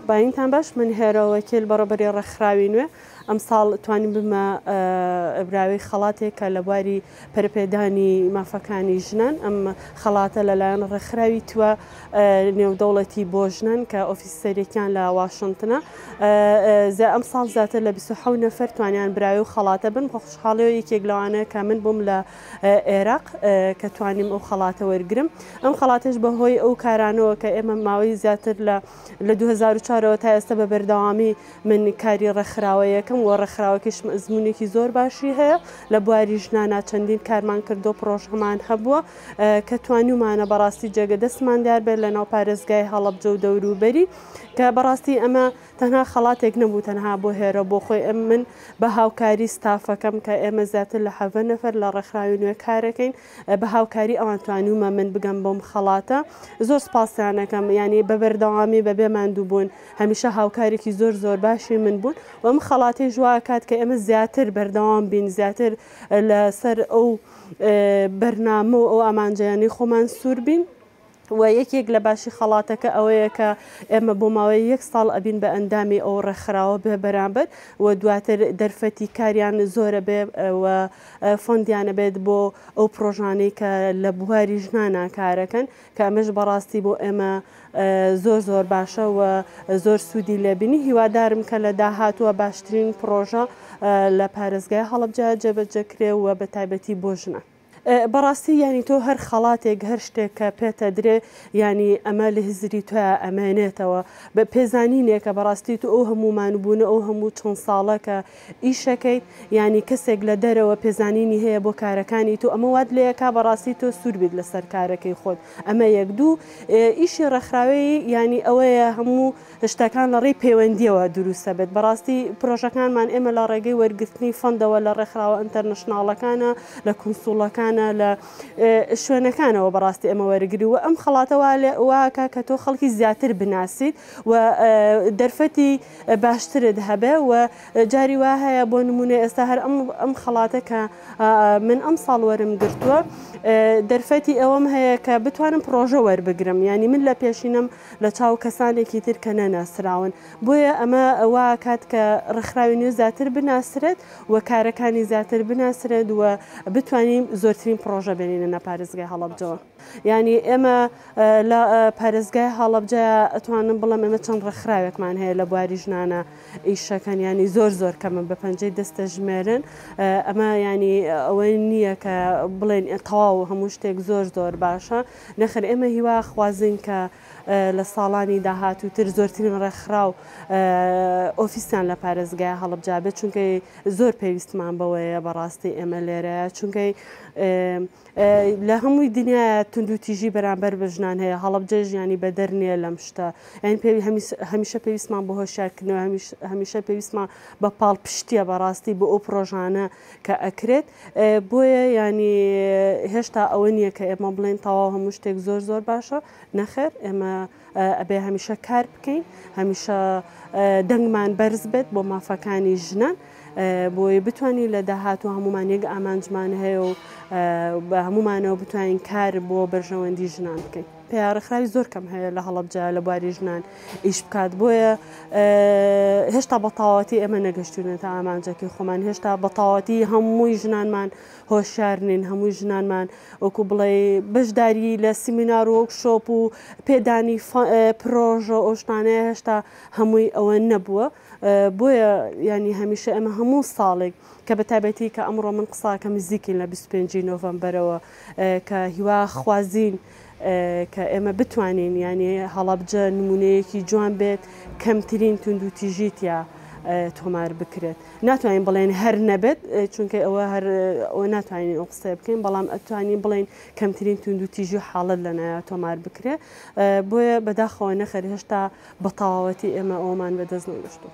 باینتان باش من هێرەوەکیل بەڕبەری ڕێکخراوی نوێ ئەمساڵ توانین بمە براوی خەڵاتێک کە لە بواری پەرپێدانی مافەکانی ژنان ئەم خەڵاتە لەلایەن ڕێکخراوی توە نێودەوڵەتی بۆ ژنان کە ئۆفیسەرێکیان لە واشنتنە ئەم ساڵ زیاتر لە 26 نەفر توانیان براوی و خەڵاتە بن خۆشحاڵەوە یەکێک لەوانەیە کە من بووم لە عێراق کە توانیم ئەو خەڵاتە وەرگرم ئەم خەڵاتش بە هۆی ئەو کارانەوە کە ئێمە ماوەی زیاتر لە لە 2004ەوە تا ئێستا بە بەردەوامی من کاری ڕێکخراوە یەکەم و ڕێکخراوەکیش ئەزمونێکی زۆر باشی هەیە لە بواری ژنانە چەندین کارمان کردو پرۆژهمان هەبووە کە توانیمانە بەڕاستی جێگە دەستمان دیار بێت لە ناو پارێزگای هەڵەبجە و دەوروبەری کە بەڕاستی ئەمە تەنها خەڵاتێک نەبوو تەنها بۆ هێرۆ بۆ خۆی ئەم من بە هاوکاری ستافەکەم کە ئێمە زیاتر لە حەڤە نەفەر لە ڕێکخراوی نوێ کارەکەین بە هاوکاری ئەوان توانیومە من بگەم بۆم خەڵاتە زۆر سپاسیانەکەم ینی بە بەردەوامی بە بێ ماندووبوون هەمیشە هاوکارێکی زۆر زۆر باشی من بوون و ئەم خەڵاتی ژوا کات کە ئێمە زیاتر بەردەوام بین زیاتر لەسەر ئەو بەرنامە و ئەو ئامانجەیانی خۆمان سوور بین وە یەکێک لە باشی خەڵاتەکە ئەوەیە کە ئێمە بۆ ماوەی یەک ساڵ ئەبین بە ئەندامی ئەو ڕێکخراوە بێ بەرامبەر و دواتر دەرفەتی کاریان زۆرە بێ و فەندیانە بێت بۆ ئەو پرۆژانەی کە لە بواری ژنانا کارەکەن کە ئەمەش بەڕاستی بۆ ئێمە زۆر زۆر باشە و زۆر سوودی لێبینی هیوادارم کە لە داهاتووە باشترین پرۆژە لە پارێزگای هەڵەبجە جێبەجەکرێ و بە تایبەتی بۆ ژنان. بەڕاستی یانی تۆ هەر خەڵاتێک هەر شتێک کە پێتە درێ یانی ئەمە لە هزری تۆ ئەمێنێتەوە بە پێزانینێکە بەڕاستی تو ئەو هەموو مانوبوونە ئەو هەموو چەند ساڵە کە ئیشەکەیت یانی کەسێک لە دەرەوە پێزانینی هەیە بۆ کارەکانی تو ئەمە وات لێ ئەکا بەڕاستی تۆ سوور بیت لەسەر کارەکەی خۆت ئەمە یەک دوو ئیشی ڕێکخراوی یانی ئەوەیە هەموو شتەکان لە ڕێی پەیوەندییەوە دروست دەبێت. بەڕاستی پرۆژەکانمان ئێمە لە ڕێگەی وەرگرتنی فەندەوە لە ڕێکخراوە ئەنتەرنەشناڵەکانە، لە کونسوڵەکانە، لە شوێنەکانەوە بەڕاستی ئێمە وەرگری و ئەم خەڵاتە واکە کە تۆ خەڵکی زیاتر بناسیت و دەرفەتی باشترت هەبێ و جاری وا هەیە بۆ نمونە ئێستا هەر ئەم ئەم خەڵاتە کە من ئەم ساڵ وەرم گرتووە دەرفەتی ئەوەم هەیە کە بتوانم پرۆژە وەربگرم ینی من لە پێشینم لە چاو کەسانێکی تر کە نەناسراون، بۆیە ئەمە وا ئەکات کە ڕێکخراوی نوێ زیاتر بناسرێت و کارەکانی زیاتر بناسرێت و بتوانین زۆرترین پڕۆژە بێنینە پارێزگای هەڵەبجەوە. یانی ئێمە لە پارێزگای هەڵەبجە ئەتوانم بڵێم ئێمە چەند ڕێکخراوێکمان هەیە لە بواری ژنانە ئیشەکەن یانی زۆر زۆر کەمن بە پەنجەی دەست دەژمێرن ئەمە یانی ئەوەی نییە کە بڵێن تەواو هەموو شتێک زۆر زۆر باشە. نەخێر ئێمە هیوا خوازین کە لە ساڵانی داهاتوو تر زۆرترین ڕێکخراو ئۆفیسیان لە پارێزگای هەڵبجا بێت چونکەی زۆر پێویستمان بەوەیە بەڕاستی ئێمە لێرەیە چونکەی لە هەمووی دنیا تونند و تیژی بەرامبەر بە ژنان هەیە هەڵبجە ژیانی بەدەر نییە لەم شتە یان پێوی هەمیشە پێویستمان بە هۆشارکردنەوە هەمیشە پێویستمان بە پاڵ پشتیە بەڕاستی بۆ ئەو پرۆژانە کە ئەکرێت بۆیە یانی هێشتا ئەوە نییە کە ئێمە بڵێن تەواو هەموو شتێک زۆر زۆر باشە نەخێر ئێمە ئەبێ هەمیشە کار بکەین هەمیشە دەنگمان بەرز بێت بۆ مافەکانی ژنان بۆی بتانی لە داهاتوە هەمومان یەک ئامانجمان هەیە و بە هەمومانەوە بتوانین کار بۆ بەرژەوەندی ژنان بکەین. پێیا ڕێکخراوی زۆر کەم هەیە لە هەڵەبجە لە بواری ژنان ئیش بکات بۆیە هێشتا بەتاواتی ئێمە نەگەشتونە تا ئامانجەکەی خۆمان هێشتا بەتاواتی هەمووی ژنانمان هۆشار نین هەمووی ژنانمان وەکو بڵێ بەشداری لە سیمینار و وەکشۆپ و پێدانی پرۆژە ئۆشتانەیە هێشتا هەمووی ئەوە نەبووە. بۆیە یانی هەمیشە ئێمە هەموو ساڵێک کە بە تایبەتی کە ئەمڕۆ من قساکەم نزیکین لە 25 ی نۆڤەمبەرەوە کە هیوا خوازین کە ئێمە بتوانین یانی هەڵەبجە نمونەیەکی جوان بێت کەمترین توندوتیژی تیا تۆمار بکرێت ناتوانین بڵێن هەر نەبێت چونکە ئەوە هەر ئەوە ناتوانین ئەو قسە بکەین بەڵام ئەتوانین بڵین کەمترین توندوتیژی و حاڵت لە نایە تۆمار بکرێت بۆیە بەداخەوە نەخەر هێشتا بە تەواوەتی ئێمە ئەوەمان بەدەست نەهێشتووە.